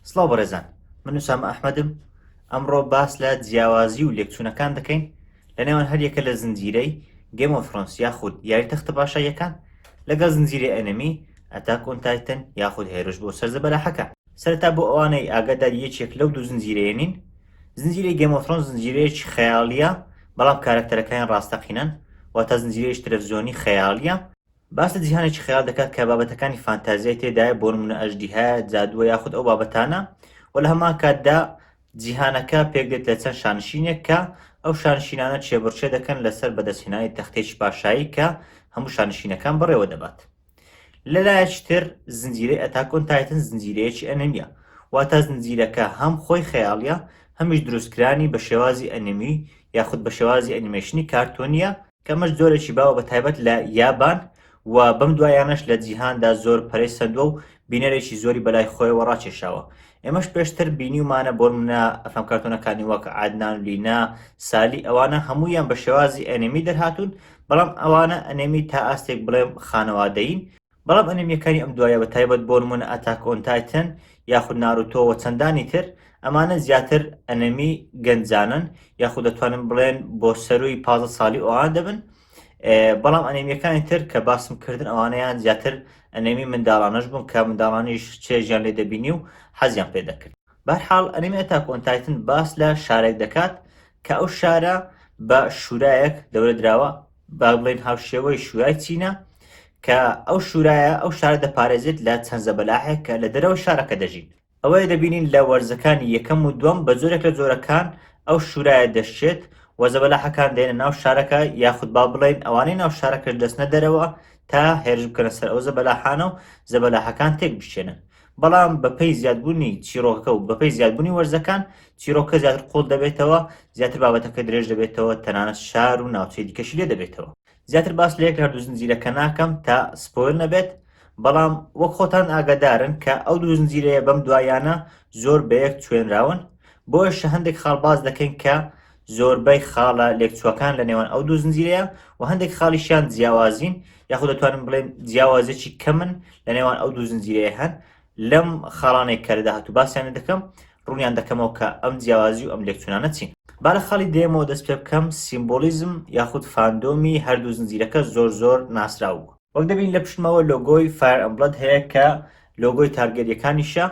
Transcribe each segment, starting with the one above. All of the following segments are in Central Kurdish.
سڵاو بەڕێزان من وسامە ئەحمەدم ئەمڕۆ باس لە جیاوازی و لێکچوونەکان دەکەین لە نێوان هەریەکە لە زنجیرەی گەمۆ فرۆنس یاخود یاری تەختە باشاییەکان لەگەڵ زنجیرەی ئەنەمی ئەتاک ئۆن تایتن یاخود هێرش بۆ سەرزە بەلاحەکە سەرتا بۆ ئەوانەی ئاگادار یەکێک لەو دوو زنجیرەیە نین زنجیرەی گەمۆ فرۆنس زنجیرەیەکی خەیاڵیە بەڵام کارەکتەرەکان ڕاستەقینەن واتە زنجیرەیەش تەلەڤزیۆنی خەیاڵیە باس لە جیهانێکی خەیاڵ دەکات کە بابەتەکانی فانتازیای تێدایە بۆ نمونە ئەژدیهایە جادووە یاخود ئەو بابەتانە و لە هەمان کاتدا جیهانەکە پێکدێت لە چەند شانشینێک کە ئەو شانشینانە چێبڕچێ دەکەن لەسەر بەدەستهێنانی تەختێکی پاشایی کە هەموو شانشینەکان بەڕێوە دەبات لەلایەکی تر زنجیرەی ئەتاکۆن تایتن زنجیرەیەکی ئەنەمیە واتا زنجیرەکە هەم خۆی خەیاڵە هەمیش دروستکرانی بە شێوازی ئەنەمی یاخود بە شێوازی ئەنیمەشنی کارتۆنیە کەمەش جۆرێکی باوە بە تایبەت لە یابان و بەم دوایانەش لە جیهاندا زۆر پەرەی سەندووە و بینەرێکی زۆری بەلای خۆیەوە ڕاکێشاوە ئێمەش پێشتر بینیومانە بۆ منە ئەفەم کارتۆنەکانی وەک عادنان لینا سالی ئەوانە هەموویان بە شێوازی ئەنێمی دەرهاتوون بەڵام ئەوانە ئەنێمی تا ئاستێک بڵێم خانەوادەین بەڵام ئەنیمیەکانی ئەم دوایە بە تایبەت بۆ نموونە ئەتاک ئۆن تایتن یاخود ناروتۆ وە چەندانی تر ئەمانە زیاتر ئەنەمی گەنجانەن یاخود دەتوانم بڵێن بۆ سەرووی پازە ساڵی ئەوان دەبن بەڵام ئەنێمیەکانی تر کە باسم کردن ئەوانەیان زیاتر ئەنێمی منداڵانەش بوون کە منداڵانیش چێژیان لێ دەبینی و حەزیان پێ دەکرد بەرحاڵ ئەنێمی ئەتا کۆنتایتن باس لە شارێک دەکات کە ئەو شارە بە شوورایەک دەورە دراوە با بڵێن هاوشێوەی شورای چینە کە ئەو شورایە ئەو شارە دەپارێزێت لە چەند زەبەلاحێک کە لە دەرەوە شارەکە دەژین ئەوەیە دەبینین لە وەرزەکانی یەکەم و دوم بە جۆرێک لە جۆرەکان ئەو شورایە دەشێت و زەبەلاحەکان دێنە ناو شارەکە یاخود با بڵێن ئەوانەی ناو شارەکەش دەستنە دەرەوە تا هێرش بکەنە سەر ئەو زەبەلاحانە و زەبەلاحەکان تێک بشێنن بەڵام بەپێی زیادبوونی چیرۆکەکە و بەپێی زیادبوونی وەرزەکان چیرۆکە زیاتر قوڵ دەبێتەوە زیاتر بابەتەکە درێژ دەبێتەوە تەنانەت شار و ناوچەی دیکەشی لێ دەبێتەوە زیاتر باس لە یەک لە هەردوو زنجیرەکە ناکەم تا سپۆیل نەبێت بەڵام وەک خۆتان ئاگادارن کە ئەو دوو زنجیرەیە بەم دوایانە زۆر بە یەک توێنراون بۆیشە هەندێک خاڵ باز دەکەین کە زۆربەی خاڵە لێکچووەکان لە نێوان ئەو دوو زنجیرەیە و هەندێک خاڵیشیان جیاوازین یاخۆ دەتوانم بڵێن جیاوازێکی کەمن لە نێوان ئەو دوو زنجیرەیە هەن لەم خاڵانێک کە لەدا هاتوو باسییانە دەکەم ڕوونیان دەکەمەوە کە ئەم جیاوازی و ئەم لێکچونانە چین با لە خاڵی دێمەوە دەست پێ بکەم سیمبۆلیزم یاخود فاندۆمی هەردوو زنجیرەکە زۆر زۆر ناسراو بوو وەک دەبین لە پشتمەوە لۆگۆی فایر ئەمبڵەد هەیە کە لۆگۆی تارگەریەکانیشە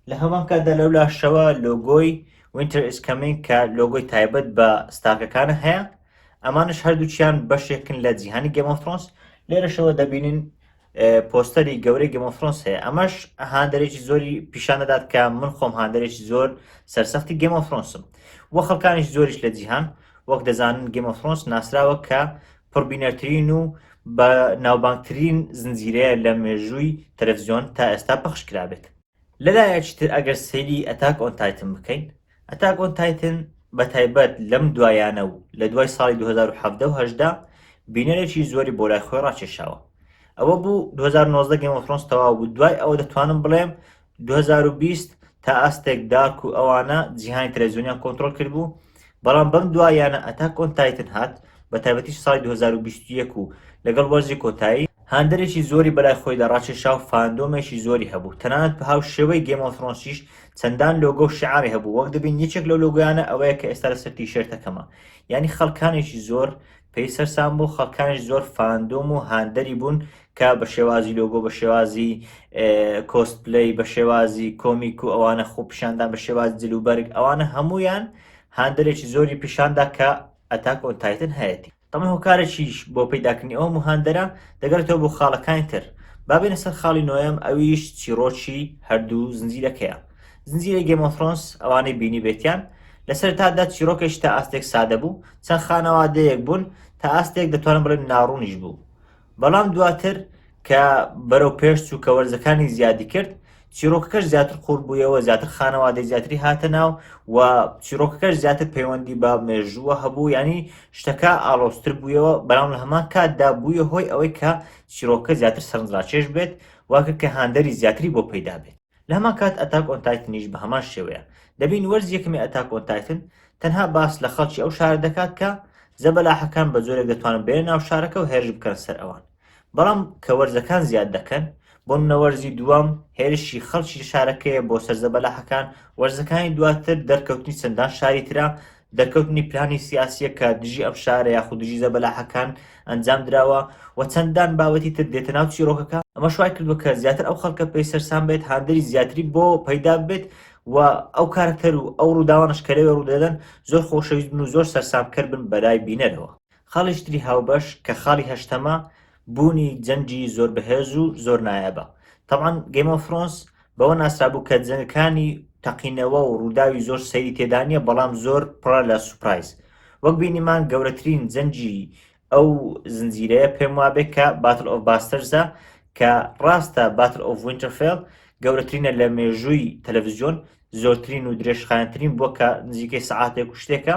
لە هەمان کاتدا لەو لاشەوە لۆگۆی وینتر ئیز کەمینگ کە لۆگۆی تایبەت بە ستارکەکانە هەیە ئەمانش هەردووچیان بەشێکن لە جیهانی گەمۆفرۆنس لێرەشەوە دەبینین پۆستەری گەورەی گەمۆفرۆنس هەیە ئەمەش هاندەرێکی زۆری پیشان دەدات کە من خۆم هاندەرێکی زۆر سەرسەختی گەمۆفرۆنسم و خەڵکانیش زۆریش لە جیهان وەک دەزانن گەمۆفرۆنس ناسراوە کە پڕبینەرترین و بە ناوبانگترین زنجیرەیە لە مێژووی تەلەفزیۆن تا ئێستا پەخش کرابێت لەلایەکی تر ئەگەر سەیری ئەتاک ئۆن تایتن بکەین ئەتاک ئۆن تایتن بە تایبەت لەم دوایانە و لە دوای ساڵی 2017 و هەشدا بینەرێکی زۆری بۆ لای خۆی ڕاکێشاوە ئەوە بوو 2019 گەمۆفرۆنس تەواو بوو دوای ئەوە دەتوانم بڵێم دوو هەزار و بیست تا ئاستێک دارک و ئەوانە جیهانی تەلەڤزیۆنیان کۆنترۆڵ کردبوو بەڵام بەم دواییانە ئەتاک ئۆن تایتن هات بە تایبەتیش ساڵی دوو هەزار و بیست و یەک و لەگەڵ وەرزی کۆتایی هاندەرێکی زۆری بەلای خۆیدا ڕاکێشا و فاندۆمێکی زۆری هەبوو تەنانەت بە هاو شێوەی گەیم ئۆف ثرۆنسیش چەندان لۆگۆ و شیعاری هەبوو وەک دەبین یەکێک لەو لۆگۆیانە ئەوەیە کە ئێستا لەسەر تیشێرتەکەمە یانی خەڵکانێکی زۆر پێی سەرسام بوو خەڵکانیش زۆر فاندۆم و هاندەری بوون کە بە شێوازی لۆگۆ بە شێوازی کۆست پلی بە شێوازی کۆمیک و ئەوانە خۆپیشاندان بە شێواز جلوبەرگ ئەوانە هەمویان هاندەرێکی زۆری پیشاندا کە ئەتاک ئۆنتایتن هەیەتی تەمە هۆکارێکیش بۆ پیداکردنی ئەو مهاندەرە دەگەرێتەوە بۆ خاڵەکانی تر بابێنە سەر خاڵی نۆیەم ئەویش چیرۆکی هەردوو زنجیرەکەیە زنجیرە گەمۆفرۆنس ئەوانەی بینی بێتیان لەسەر تادا چیرۆکێک تا ئاستێک سادە بوو چەند خانەوادەیەک بوون تا ئاستێک دەتوانم بڵێم ناڕوونیش بوو بەڵام دواتر کە بەرەو پێش چوو کە وەرزەکانی زیادی کرد چیرۆکەکەش زیاتر قوور بوویەوە زیاتر خانەوادەی زیاتری هاتە ناو و چیرۆکەکەش زیاتر پەیوەندی بە مێژووە هەبوو ینی شتەکە ئاڵۆستر بوویەوە بەرام لە هەمان کاتدا بووە هۆی ئەوەی کە چیرۆکە زیاتر سەرنجڕاکێش بێت واکە کە هاندەری زیاتری بۆ پەیدا بێت لە هەمان کات ئەتاک ئۆن تایتنیش بە هەمان شێوەیە دەبین وەرزی یەکەمی ئەتاک ئۆن تایتن تەنها باس لە خەڵکی ئەو شارە دەکات کە زەبەلاحەکان بە جۆرێک دەتوانن بێنە ناو شارەکە و هێرش بکەنە سەر ئەوان بەڵام کە وەرزەکان زیاد دەکەن بۆ منە وەرزی دووەم هێرشی خەڵکی شارەکەیە بۆ سەر زەبەلاحەکان وەرزەکانی دواتر دەرکەوتنی چەندان شاری ترە دەرکەوتنی پلانی سیاسییەک کە دژی ئەم شارە یاخود دژی زەبەلاحەکان ئەنجام دراوە و چەندان بابەتی تر دێتە ناو چیرۆکەکە، ئەمەش وای کردووە کە زیاتر ئەو خەڵکە پێی سەرسام بێت، هاندەری زیاتری بۆ پەیدا ببێت و ئەو کارەکتەر و ئەو ڕووداوانەش کە لەوێ ڕوودەدەن زۆر خۆشەویست بن و زۆر سەرسامکەر بن بەلای بینەرەوە. خاڵیکی تری هاوبەش کە خاڵی هەشتەمە بوونی جەنگی زۆر بەهێز و زۆر نایابە تەبعەن گەیم ئۆف ثرۆنس بەوە ناسرابوو کە جەنگەکانی تەقینەوە و ڕووداوی زۆر سەیری تێدا نییە بەڵام زۆر پڕە لە سوپرایز وەک بینیمان گەورەترین جەنگی ئەو زنجیرەیە پێم وابێ کە باتل ئۆف باستەرزە کە ڕاستە باتل ئۆف وینتەرفێڵ گەورەترینە لە مێژووی تەلەڤزیۆن زۆرترین و درێژخایەنترین بووە کە نزیکەی سعاتێک و شتێکە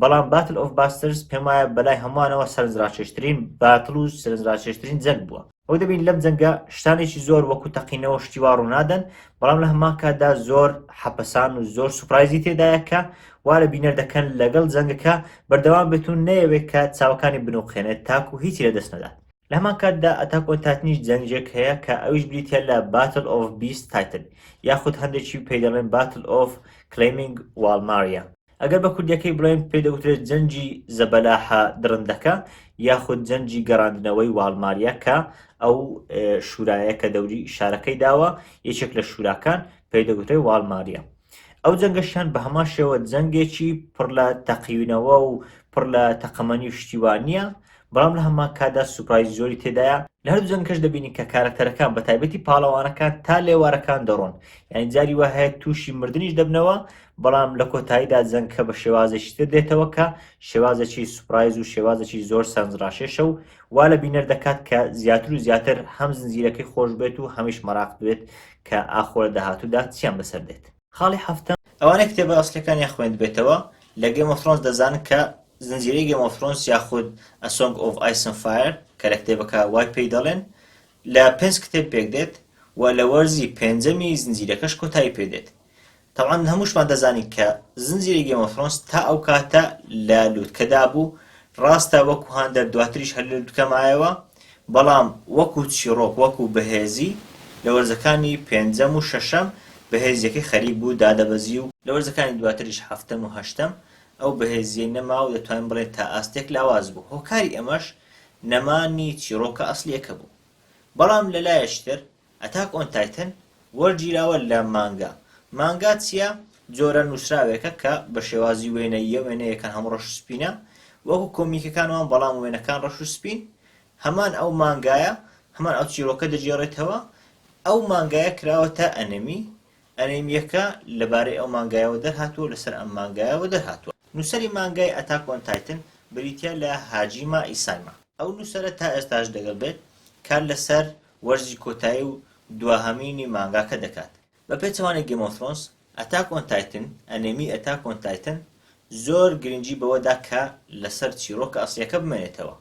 بەڵام باتل ئۆف باسترز پێم وایە بەلای هەمووانەوە سەرنجڕاکێشترین باتل و سەرنجڕاکێشترین جەنگ بووە ئەو دەبین لەم جەنگە شتانێکی زۆر وەکو تەقینەوە شتیوا ڕوونادەن بەڵام لە هەمان کاتدا زۆر حەپەسان و زۆر سوپرایزی تێدایە کە وا لە بینەر دەکەن لەگەڵ جەنگەکە بەردەوام بێتون نەیەوێت کە چاوەکانی بنوقێنێت تاکو هیچی لە دەست نەدات لە هەمان کاتدا ئەتاک ئۆن تاتنیش جەنگێک هەیە کە ئەویش بریتە لە باتل ئۆف بیست تایتن یاخود هەندێکی پێی دەڵێن باتل ئۆف کلەیمینگ واڵماریا ئەگەر بە کوردیەکەی بڵێن پێی دەوترێت جەنگی زەبەلاحە دڕندەکە یاخود جەنگی گەڕاندنەوەی واڵماریا کە ئەو شورایە کە دەوری شارەکەی داوە یەکێک لە شوراکان پێی دەگوترێت واڵماریا ئەو جەنگەشیان بە هەمان شێوە جەنگێکی پڕ لە تەقیونەوە و پڕ لە تەقەمەنی و شتیوانە بەڵام لە هەمان کاتدا سوپرایزی زۆری تێدایە، لە هەردوو جەنگەکەش دەبینین کە کارەکتەرەکان بە تایبەتی پاڵەوانەکان تا لێوارەکان دەڕۆن، یانی جاری وا هەیە تووشی مردنیش دەبنەوە، بەڵام لە کۆتاییدا جەنگەکە بە شێوازێکی تر دێتەوە کە شێوازێکی سوپرایز و شێوازێکی زۆر سەرنجڕاکێشە و وا لە بینەر دەکات کە زیاتر و زیاتر هەم زنجیرەکەی خۆش بێت و هەمیش مەراقبێت کە ئاخۆ لە داهاتوودا چیان بەسەر دێت. خاڵی حەفتەم. ئەوانەی کتێبە ئەسڵیەکانیان خوێندبێتەوە لە گەیم ئۆف ثرۆنس دەزانن کە زنجیرەی گەیم ئۆف ثرۆنس یاخود A Song of Ice and Fire کە لە کتێبەکە وای پێی دەڵێن لە پێنج کتێب پێکدێت و لە وەرزی پێنجەمی زنجیرەکەش کۆتایی پێدێت تەوان هەمووشمان دەزانین کە زنجیرەی گەیم ئۆف ثرۆنس تا ئەو کاتە لە لووتکەدا بوو ڕاستە وەکو هاندەر دواتریش هەر لە لووتکە مایەوە بەڵام وەکو چیڕۆک وەکو بەهێزی لە وەرزەکانی پێنجەم و شەشەم بەهێزیەکەی خەریک بوو دادەبەزی و، لە وەرزەکانی دواتریش هەفتەم و هەشتەم ئەو بەهێزیەی نەما و دەتوانین بڵێین تا ئاستێک لاواز بوو هۆکاری ئەمەش نەمانی چیڕۆکە ئەسڵیەکە بوو بەڵام لەلایەکی تر ئەتاک ئۆن تایتن وەرگیراوە لە مانگا. مانگا چیە؟ جۆرە نوسراوێکە کە بە شێوازی وێنەییە وێنەیەکان هەموو ڕەش و سپینە وەکو کۆمیکەکان وان بەڵام وێنەکان ڕەش و سپین هەمان ئەو مانگایە هەمان ئەو چیرۆکە دەگێڕێتەوە ئەو مانگایە کراوەتە ئەنمی ئەنمیەکە لەبارەی ئەو مانگایەوە دەرهاتووە لەسەر ئەم مانگایەوە دەرهاتووە نوسەری مانگای ئەتاک ئۆن تایتن بریتیە لە هاجیما ئیسایما ئەو نوسەرە تا ئێستاش دەگەڵ بێت کار لەسەر وەرزی کۆتایی و دواهەمینی مانگاکە دەکات بە پێچەوانەی گەیم ئۆف ثرۆنس ئەتاک ئۆن تایتن ئەنێمی ئەتاک ئۆن تایتن زۆر گرنگی بەوەدا کە لەسەر چیڕۆکە ئەسڵیەکە بمێنێتەوە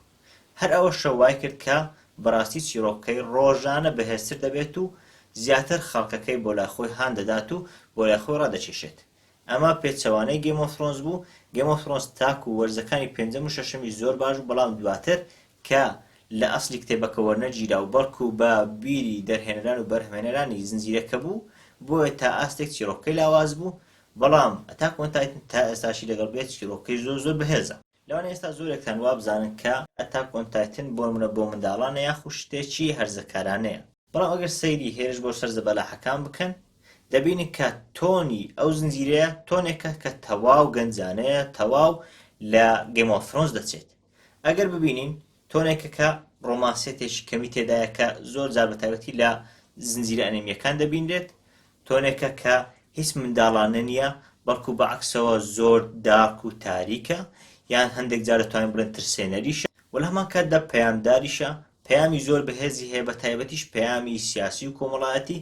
هەر ئەوەشە وایکرد کە بەراستی چیڕۆکەکەی ڕۆژانە بەهێزتر دەبێت و زیاتر خەڵکەکەی بۆ لای خۆی هان دەدات و بۆ لای خۆی ڕادەکێشێت ئەمە پێچەوانەی گەیم ئۆف ثرۆنس بوو، گەیم ئۆف ثرۆنس تاکو وەرزەکانی پێنجەم و شەشەمیش زۆر باش بوو بەڵام دواتر کە لە ئەسڵی کتێبەکە وەرنەگیرا و بەڵکو بە بیری دەرهێنەران و بەرهەمهێنەرانی زنجیرەکە بوو بۆیە تا ئاستێک چیڕۆکەکەی لاواز بوو بەڵام ئەتاک ئۆن تایتن تا ئێستاشی لەگەڵ بێت چیڕۆکەکەی زۆر زۆر بەهێزە. لەوانەیە ئێستا زۆرێکتان وابزانن کە ئەتاک ئۆن تایتن بۆنمونە بۆ منداڵانە یاخو شتێکی هەرزەکارانەیە بەڵام ئەگەر سەیری هێرش بۆ سەر زەبەلاحەکان بکەن دەبینن کە تۆنی ئەو زنجیرەیە تۆنێکە کە تەواو گەنجانەیە تەواو لە گەیم ئۆف ثرۆنس دەچێت ئەگەر ببینین تۆنێکەکە ڕۆمانسێتێکی کەمی تێدایە کە زۆر جار بەتایبەتی لە زنجیرە ئەنێمیەکان دەبینرێت تۆنێکە کە هیچ منداڵانە نییە بەڵکو بە عکسەوە زۆر داک و تاریکە یان هەندێک جار دەتوانین بڵێن ترسێنەریشە و لە هەمان کاتدا پەیامداریشە پەیامی زۆر بەهێزی هەیە بە تایبەتیش پەیامی سیاسی و کۆمەڵایەتی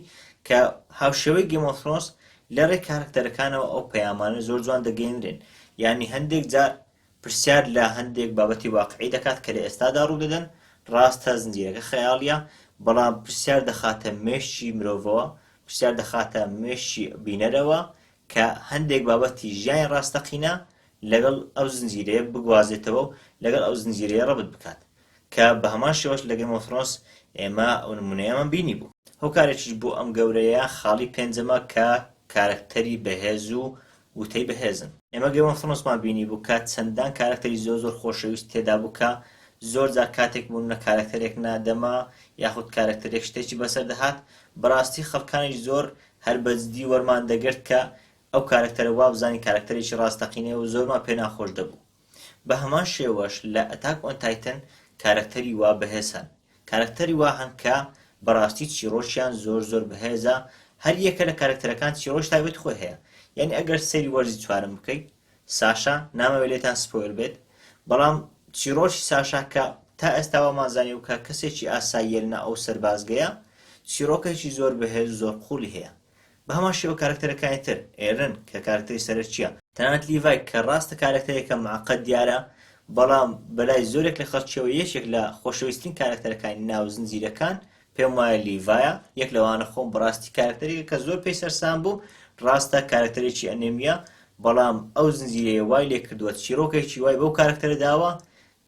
کە هاوشێوەی گەمۆفرۆنس لە ڕێ کارکتەرەکانەوە ئەو پەیامانە زۆر جوان دەگەێنرێن یعنی هەندێک جار پرسیار لە هەندێک بابەتی واقعی دەکات کە لە ئێستادا ڕوودەدەن، ڕاستە زنجیرەکە خەیاڵییە، بەڵام پرسیار دەخاتە مێشکی مرۆڤەوە، پرسیار دەخاتە مێشکی بینەرەوە کە هەندێک بابەتی ژیانی ڕاستەقینە لەگەڵ ئەو زنجیرەیە بگوازێتەوە و لەگەڵ ئەو زنجیرەیە ڕەبت بکات، کە بە هەمان شێوەش لە گەیم ئۆف ثرۆنس ئێمە ئەو نموونەیەمان بینیبوو. هۆکارێکیش بۆ ئەم گەورەیە خاڵی پێنجەمە کە کارەکتەری بەهێز و وتەی بەهێزن. ئێمە گەیم ئۆف ثرۆنسمان بینیبوو کە چەندان کارەکتەری زۆر زۆر خۆشەویست تێدابوو کە زۆر جار کاتێک مونونە کارەکتەرێک نا دەما یاخود کارەکتەرێک شتێکی بەسەر دەهات بەراستی خەلکانیش زۆر هەر بەجدی وەرمان دەگرت کە ئەو کارەکتەرە وابزانین کارەکتەرێکی راستەقینەیە و زۆرمان پێ ناخۆش دەبوو بە هەمان شێوەش لە ئەتاک ئۆن تایتن کارەکتەری وا بەهێز هەن کارەکتەری وا هەن کە بەڕاستی چیڕۆکیان زۆر زۆر بەهێزە هەر یەکە لە کارەکتەرەکان چیڕۆکی تایبەتی خۆی هەیە یانی ئەگەر سەیری وەرزی چوارەم بکەی ساشا نامەوێت لێتان سپۆیل بێت بەڵام چیڕۆکی ساشا کە تا ئێستا وامان زانیوە کە کەسێکی ئاساییە لەناو ئەو سەربازگەیە چیڕۆکێکی زۆر بەهێز و زۆر قووڵی هەیە بە هەمان شێوە کارەکتەرەکانی تر، ئێرن، کە کارەکتەری سەرەکییە، تەنانەت لیڤای کە ڕاستە کارەکتەرێکە موعەقەد دیارە، بەڵام بە لای زۆرێک لە خەڵکییەوە یەکێک لە خۆشەویسترین کارەکتەرەکانی ناو زنجیرەکان پێم وایە لیڤایە، یەک لەوانە خۆم بەڕاستی کارەکتەرێکە کە زۆر پێی سەرسام بووم، ڕاستە کارەکتەرێکی ئەنێمییە، بەڵام ئەو زنجیرەیە وای لێ کردووە چیڕۆکێکی وای بەو کارەکتەرە داوە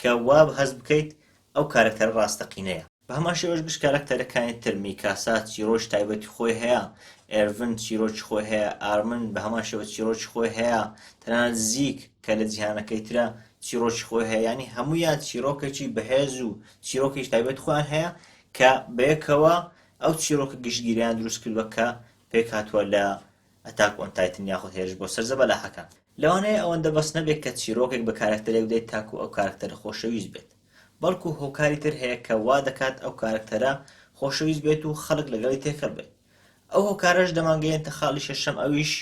کە وا هەست بکەیت ئەو کارەکتەرە ڕاستەقینەیە. بە هەمان شێوەش گشت کاراکتەرەکانی تر، میکاسا چیرۆکی تایبەتی خۆی هەیە، ئێرڤن چیرۆکی خۆی هەیە، ئارمن بە هەمان شێوە چیرۆکی خۆی هەیە، تەنانەت زیک کە لە جیهانەکەی ترە چیرۆکی خۆی هەیە، یانی هەموویان چیرۆکێکی بەهێز و چیرۆکێکی تایبەتی خۆیان هەیە کە بەیەکەوە ئەو چیرۆکە گشتگیرەیان دروست کردووە کە پێکهاتووە لە ئەتاک ئۆن تایتن یاخود هێرش بۆ سەر زەبەلاحەکان. لەوانەیە ئەوەندە بەس نەبێت کە چیرۆکێک بە کاراکتەرێک بدەیت تاکوو ئەو کاراکتەرە خۆشەویست بێت. بەڵکو هۆکاری تر هەیە کە وا دەکات ئەو کارەکتەرە خۆشەویست بێت و خەڵک لەگەڵی تێکەڵ بێت. ئەو هۆکارەش دەمانگەیەنتە خاڵی شەشەم ئەویش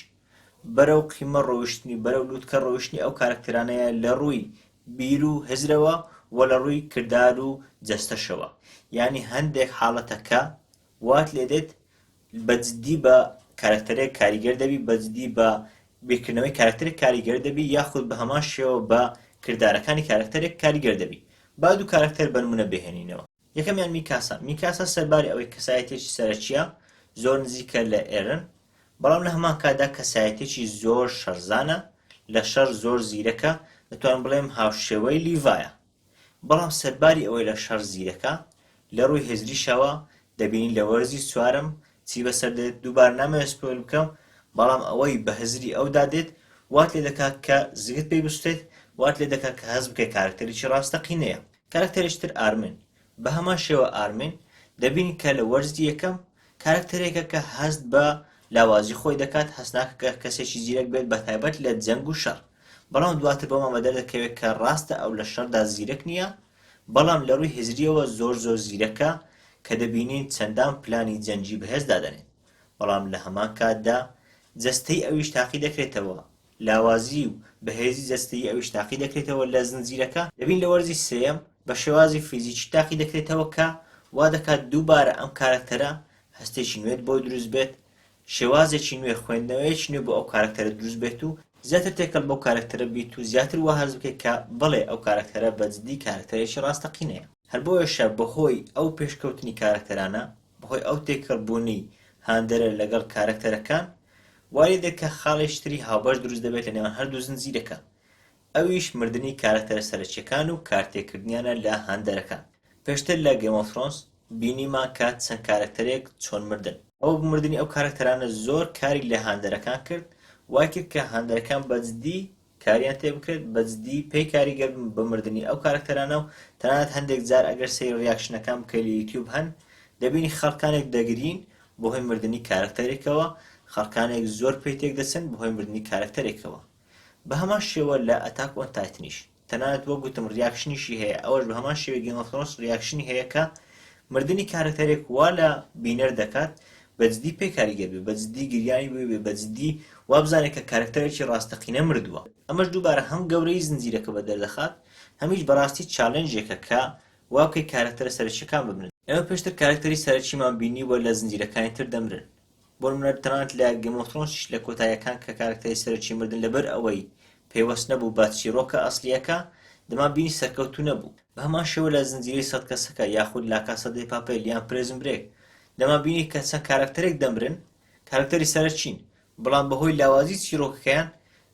بەرەو قیمە ڕۆیشتنی، بەرەو لووتکە ڕۆیشتنی ئەو کارەکتەرانەیە لە ڕووی بیر و هزرەوە و لە ڕووی کردار و جەستەشەوە. یانی هەندێک حاڵەتە کە وات لێ دێت بە جدی بە کارەکتەرێک کاریگەر دەبی بە جدی بە بیرکردنەوەی کارەکتەرێک کاریگەر دەبی یاخود بە هەمان شێوە بە کردارەکانی کارەکتەرێک کاریگەر دەبی با دوو کارەکتەر بە نمونە بهێنینەوە یەکەمیان میکاسا میکاسا سەرباری ئەوەی کەسایەتیەکی سەرەکیە زۆر نزیکە لە ئێرن بەڵام لە هەمان کاتدا کەسایەتێکی زۆر شەرزانە لە شەر زۆر زیرەکە دەتوانم بڵێم هاوشێوەی لیڤایە بەڵام سەرباری ئەوەی لە شەڕ زیرەکە، لە ڕووی هزریشەوە دەبینین لە وەرزی چوارەم چی بەسەر دێت، دووبارە نامەوێت سپۆیل بکەم، بەڵام ئەوەی بە هزری ئەودا دێت وات لێ دەکات کە زگت پێی بسوتێت، وات لێ دەکات کە هەست بکەیت کارەکتەرێکی ڕاستەقینەیە. کارەکتەرێکی تر ئارمن بە هەمان شێوە ئارمین دەبین کە لە وەرزی یەکەم کارەکتەرێکە کە هەست بە لاوازی خۆی دەکات هەست ناکە کە کەسێکی زیرەک بێت بە تایبەت لە جەنگ و شەڕ بەڵام دواتر بۆمان بە دەردەکەوێت کە ڕاستە ئەو لە شەردا زیرەک نییە بەڵام لە ڕووی هزریەوە زۆر زۆر زیرەکە کە دەبینین چەندان پلانی جەنگی بەهێز دادەنێت بەڵام لە هەمان کاتدا جەستەی ئەویش تاقی دەکرێتەوە لاوازیی و بەهێزی جەستەیی ئەویش تاقی دەکرێتەوە لە زنجیرەکە، دەبین لە وەرزی سێیەم بە شێوازی فیزیکی تاقی دەکرێتەوە کە وا دەکات دووبارە ئەم کارەکتەرە هەستێکی نوێت بۆ دروست بێت، شێوازێکی نوێ، خوێندنەوەیەکی نوێ بۆ ئەو کارەکتەرە دروست بێت و زیاتر تێکەڵ بەو کارەکتەرە بیت و زیاتر وا هەست بکەیت کە بەڵێ ئەو کارەکتەرە بە جدی کارەکتەرێکی ڕاستەقینەیە. هەر بۆیەشە بە هۆی ئەو پێشکەوتنی کارەکتەرانە بەهۆی ئەو تێکەڵبوونەی هاندەرە لەگەڵ کارەکتەرەکان وایلێدێ کە خاڵی شتری هاوبەش دروست دەبێت لە نێوان هەردوو زنجیرەکە ئەویش مردنی کارەکتەرە سەرەکیەکان و کارتێکردنیانە لە هاندەرەکان پێشتر لە Game of Thrones بینیمان کە چەند کارەکتەرێک چۆن مردن، ئەو مردنی ئەو کارەکتەرانە زۆر کاری لە هاندەرەکان کرد وایکرد کە هاندەرەکان بەجدی کاریان تێ بکرێت بەجدی پێی کاریگەر بن بە مردنی ئەو کارەکتەرانە و تەنانەت هەندێک جار ئەگەر سەیری ڕیاکشنەکان بکەی لە یوتیوب هەن دەبینی خەڵکانێک دەگرین بەهۆی مردنی کارەکتەرێکەوە خەڵکانێک زۆر پێی تێک دەچن بەهۆی مردنی کارەکتەرێکەوە بە هەمان شێوە لە ئەتاک ئۆن تایتنیش تەنانەت وەک گوتم ڕیاکشنیشی هەیە ئەوەش بە هەمان شێوەی گێم ئۆف ثرۆنس ڕیاکشنی هەیە کە مردنی کارەکتەرێک وا لە بینەر دەکات بەجدی پێ کاریگەر بێ بەجدی گریانی بۆ بێ بەجدی وابزانێ کە کارەکتەرێکی ڕاستەقینە مردووە ئەمەش دووبارە هەم گەورەیی زنجیرەکە بەدەردەخات هەمیش بەڕاستی چالێنجێکە کە وابکەی کارەکتەرە سەرەکیەکان بمرن ئێمە پێشتر کارەکتەری سەرەکیمان بینیووە لە زنجیرەکانی تر دەمرن بۆنمونە تەنانەت لە گەمۆفرۆنسیش لە کۆتاییەکان کە کارەکتەری سەرەکی مردن لەبەر ئەوەی پەیوەست نەبوو بە چیڕۆکە ئەسڵیەکە دەمان بینی سەرکەوتوو نەبوو بەهەمان شێوە لە زنجیرەی سەد کەسەکە یاخود لاکاسا دێ پاپێل یان پرێزن برێک دەمان بینی کە چەند کارەکتەرێک دەمرن کارەکتەری سەرەکین، بەڵام بەهۆی لاوازی چیرۆکەکەیان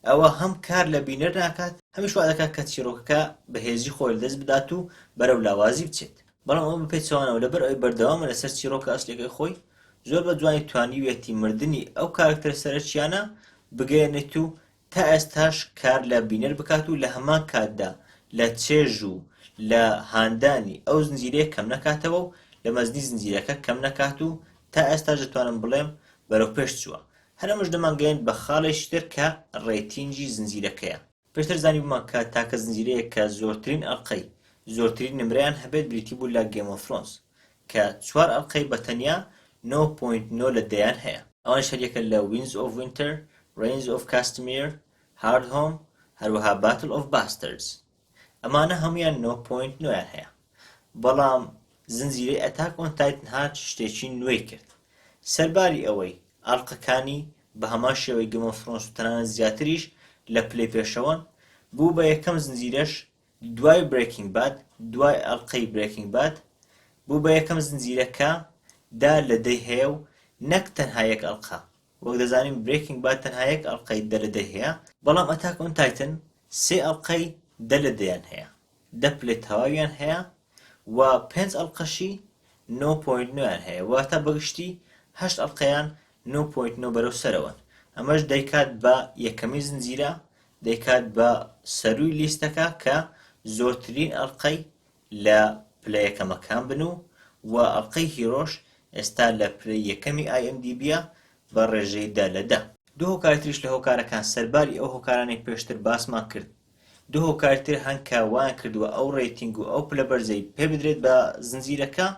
ئەوە هەم کار لە بینەر ناکات، هەمیش وا دەکات کە چیرۆکەکە بەهێزی خۆی لەدەست بدات و بەرەو لاوازی بچێت. بەڵام ئەمە بەپێچەوانەوە، لەبەر ئەوەی بەردەوامە لەسەر چیرۆکە ئەسڵیەکەی خۆی، زۆر بە جوانی توانیویەتی مردنی ئەو کارەکتەرە سەرەکییانە بگەیەنێت و تا ئێستاش کار لە بینەر بکات و لە هەمان کاتدا لە چێژ و لە هاندانی ئەو زنجیرەیە کەم نەکاتەوە و لە مەزنی زنجیرەکە کەم نەکات و تا ئێستاش دەتوانم بڵێم بەرەو پێش چووە. هەر ئەمەش دەمانگەیەنێت بە خاڵێکی تر کە ڕەیتینگی زنجیرەکەیە. پێشتر زانیبوومان کە تاکە زنجیرەیەک کە زۆرترین ئەڵقەی زۆرترین نمرەیان هەبێت بریتی بوو لە گەیم ئۆف ثرۆنس کە چوار ئەڵقەی بە تەنیا نۆ پۆینت نۆ لە دەیان هەیە. ئەوانیش هەر یەکە لە وینز ئۆف وینتەر، ڕێینز ئۆف کاستمیر، هارد هۆم، هەروەها باتل ئۆف باستەردز. ئەمانە هەموویان نۆ پۆینت نۆیان هەیە. بەڵام زنجیرەی ئەتاک ئۆن تایتن هات شتێکی نوێی کرد. سەرباری ئەوەی ئەڵقەکانی بە هەمان شێوەی گێم ئۆف ثرۆنس و تەنانەت زیاتریش لە پلەی پێشەوەن، بوو بە یەکەم زنجیرەش دوای برێکینگ باد دوای ئەڵقەی برێکینگ باد بوو بە یەکەم زنجیرە کە دە لە دەی هەیە و نەک تەنها یەک ئەڵقە وەک دەزانین برێکینگ باد تەنها یەک ئەڵقەی دە لە دەی هەیە بەڵام ئەتاک ئۆن تایتن سێ ئەڵقەی دە لە دەیان هەیە دە پلەی تەواویان هەیە وە پێنج ئەڵقەشی نۆ پۆینت نۆیان هەیە واتە بەگشتی هەشت ئەڵقەیان نۆ پۆینت نۆ بەرەو سەرەوەن ئەمەش دەیکات بە یەکەمین زنجیرە دەیکات بە سەرووی لیستەکە کە زۆرترین ئەڵقەی لە پلە یەکەمەکان بن و وە ئەڵقەی هیرۆش ئێستا لە پلەی یەکەمی ئای ئێم دی بیە بە ڕێژەی دە لە دە. دوو هۆکاری تریش لە هۆکارەکان سەرباری ئەو هۆکارانەی پێشتر باسمان کرد دوو هۆکاری تر هەن کە وایان کردووە ئەو ڕەیتینگ و ئەو پلە بەرزەی پێ بدرێت بە زنجیرەکە،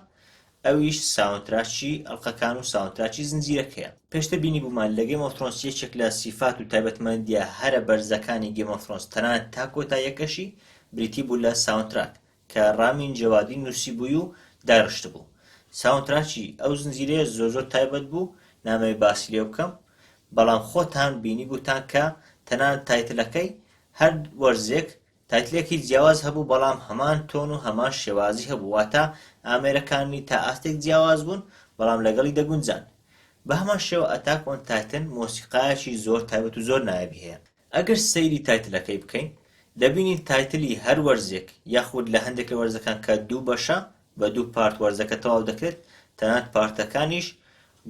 ئەویش ساوندتراکی ئەڵقەکان و ساوندتراکی زنجیرەکەیە. پێشتر بینیبوومان لە گەیم ئۆف ثرۆنس یەکێک لە سیفات و تایبەتمەندییە هەرە بەرزەکانی گەیم ئۆف ثرۆنس تەنانەت تا کۆتاییەکەشی بریتی بوو لە ساوندتراک کە ڕامین جەوادی نوسیبووی و دارشتبوو ساونتراکی ئەو زنجیرەیە زۆر زۆر تایبەت بوو نامەوێ باسی لێ بکەم بەڵام خۆتان بینیبووتان کە تەنانەت تایتلەکەی هەر وەرزێک تایتلێکی جیاواز هەبوو بەڵام هەمان تۆن و هەمان شێوازی هەبوو واتە ئامێرەکانی تا ئاستێک جیاواز بوون بەڵام لەگەڵی دەگونجان بە هەمان شێوە ئەتاک ئۆن تایتن مۆسیقایەکی زۆر تایبەت و زۆر نایابی هەیە ئەگەر سەیری تایتلەکەی بکەین دەبینین تایتلی هەر وەرزێک یاخود لە هەندێک لە وەرزەکان کە دوو بەشە بە دوو پارت وەرزەکە تەواو دەکرێت تەنانەت پارتەکانیش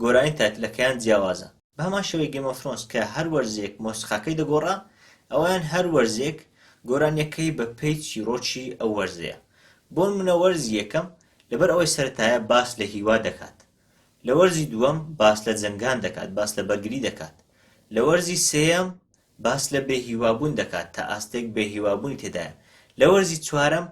گۆرانی تایتلەکەیان جیاوازە بە هەمان شێوەی گەیم ئۆف ثرۆنس کە هەر وەرزێک مۆسیقاکەی دەگۆڕا ئەوەیان هەر وەرزێک گۆرانیەکەی بە پێی چیڕۆکی ئەو وەرزەیە بۆنمونە وەرزی یەکەم لەبەر ئەوەی سەرەتایە باس لە هیوا دەکات لە وەرزی دووەم باس لە جەنگان دەکات، باس لە بەرگری دەکات. لە وەرزی سێیەم باس لە بێهیوابوون دەکات، تا ئاستێک بێهیوابوونی تێدایە. لە وەرزی چوارەم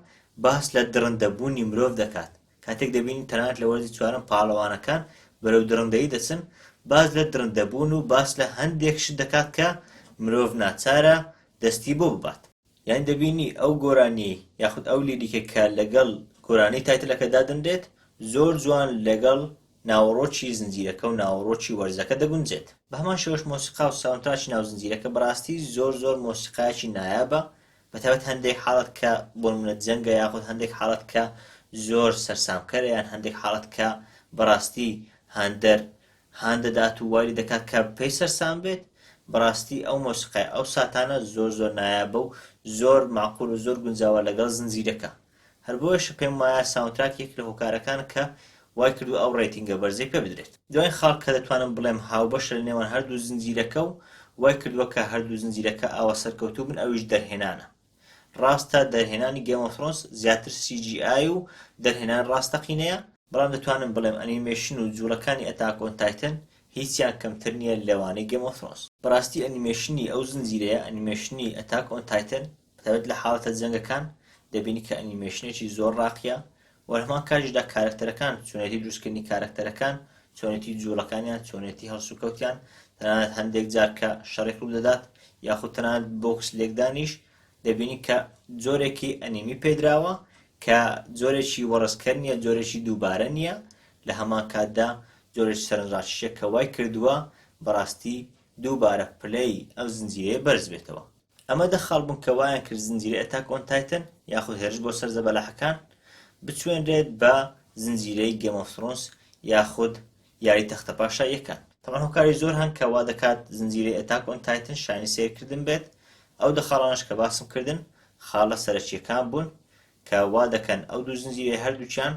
باس لە دڕندەبوونی مرۆڤ دەکات، کاتێک دەبینین تەنانەت لە وەرزی چوارەم پاڵەوانەکان بەرەو دڕندەیی دەچن، باس لە دڕندەبوون و باس لە هەندێک شت دەکات کە مرۆڤ ناچارە دەستی بۆ ببات. یانی دەبینی ئەو گۆرانیەی یاخود ئەو لیریکە کە لەگەڵ گۆرانی تایتلەکە دادەنرێت زۆر جوان لەگەڵ ناوەڕۆکی زنجیرەکە و ناوەڕۆکی وەرزەکە دەگونجێت. بەهەمان شێوەش مۆسیقا و ساوندتراکی ناو زنجیرەکە بەڕاستی زۆر زۆر مۆسیقایەکی نایابە بەتایبەت هەندێک حاڵەت کە بۆنمونە جەنگە یاخود هەندێک حاڵەت کە زۆر سەرسامکەرە یان هەندێک حاڵەت کە بەڕاستی هاندەر هان دەدات و وای لێدەکات کە پێی سەرسام بێت، بەڕاستی ئەو مۆسیقای ئەو ساتانە زۆر زۆر نایابە و زۆر مەعقول و زۆر گونجاوە لەگەڵ زنجیرەکە، هەر بۆیەشە پێم وایە ساوندتراک یەکێک لە هۆکارەکانە کە وای کردووە ئەو ڕەیتینگە بەرزەی پێ بدرێت. دوایین خاڵ کە دەتوانم بڵێم هاوبەشە لە نێوان هەردوو زنجیرەکە و وای کردووە کە هەردوو زنجیرەکە ئاوا سەرکەوتوو بن ئەویش دەرهێنانە، ڕاستە دەرهێنانی گەیم ئۆف ثرۆنس زیاتر سی جی ئای و دەرهێنان ڕاستەقینەیە بەڵام دەتوانم بڵێم ئەنیمەیشن و جووڵەکانی ئەتاک ئۆن تایتن هیچیان کەمتر نییە لەوانەی گەیم ئۆف ثرۆنس بەڕاستی ئەنیمەیشنی ئەو زنجیرەیە ئەنیمەیشنی ئەتاک ئۆن تایتن بەتایبەت لە حاڵەتە جەنگەکان دەبینی کە ئەنیمەیشنێکی زۆر ڕاقییە وە لەهەمان کاتیشدا کارەکتەرەکان، چۆنێتی دروستکردنی کارەکتەرەکان، چۆنێتی جوڵەکانیان، چۆنێتی هەڵسوکەوتیان، تەنانەت هەندێک جار کە شەڕێک ڕوودەدات یاخود تەنانەت بۆکس لێکدانیش دەبینین کە جۆرێکی ئەنیمی پێدراوە کە جۆرێکی وەڕسکەر نییە، جۆرێکی دووبارە نییە، لە هەمان کاتدا جۆرێکی سەرنجڕاکیشە کە وای کردووە بەڕاستی دووبارە پلەی ئەم زنجیرەیە بەرز بێتەوە. ئەمە دە خاڵ بوون کە وایان کرد زنجیرەی ئەتاک ئۆن تایتن یاخود هێرش بۆ سەر زەبەلاحەکان بچوێنرێت بە زنجیرەی گێم ئۆف ثرۆنس یاخود یاری تەختە پاشاییەکان تەمان هۆکاری زۆر هەن کە وا دەکات زنجیرەی ئەتاک ئۆن تایتن شایانی سەیرکردن بێت ئەو دە خاڵانەش کە باسم کردن خاڵە سەرەکیەکان بوون کە وا دەکەن ئەو دوو زنجیرەی هەردووکیان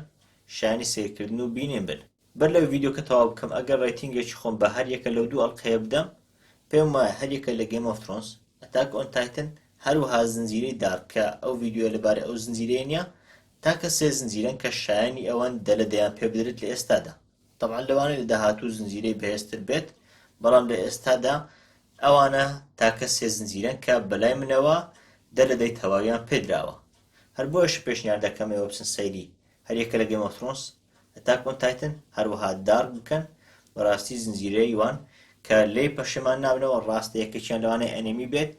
شایانی سەیرکردن و بینین بن بەر لەوەی ڤیدیۆکە تەواو بکەم ئەگەر ڕەیتینگێکی خۆم بە هەر یەکە لەو دوو ئەڵقەیە بدەم پێم وایە هەر یەکە لە گەیم ئۆف ترۆنس، ئەتاک ئۆن تایتن هەروەها زنجیرەی دارک کە ئەو ڤیدیۆیە لەبارەی ئەو زنجیرەیە نیە تاکە سێ زنجیرەن کە شایەنی ئەوەن دەلە دەیان پێ بدرێت لە ئێستادا تەبعەن لەوانەیە لە داهاتوو زنجیرەی بەهێزتر بێت بەڵام لە ئێستادا ئەوانە تاکە سێ زنجیرەن کە بەلای منەوە دە لە دەی تەواویان پێدراوە هەر بۆیەش پێشنیار دەکەم ئێوە بچن سەیری هەر یەکە لە گەیم ئۆف ترۆنس ئەتاک ئۆن تایتن هەروەها دارک بکەن بەڕاستی زنجیرەی وان کە لێی پەشێمان نابنەوە ڕاستە یەکێکیان لەوانەیە ئەنێمی بێت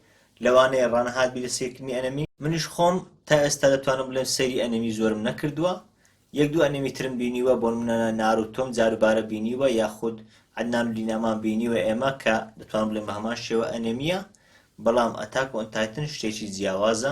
لەوانەیە ڕانەهات بی لە سیرکردنی ئەنەمی منیش خۆم تا ئێستا دەتوانم بڵێم سەیری ئەنێمی زۆرم نەکردووە یەک دوو ئەنێمی ترم بینیوە بۆنمونە ناروتۆم جاروبارە بینیوە یاخود عەدنان و لینامان بینیوە ئێمە کە دەتوانم بڵێم بە هەمان شێوە ئەنێمیە بەڵام ئەتاک ئۆن تایتن شتێکی جیاوازە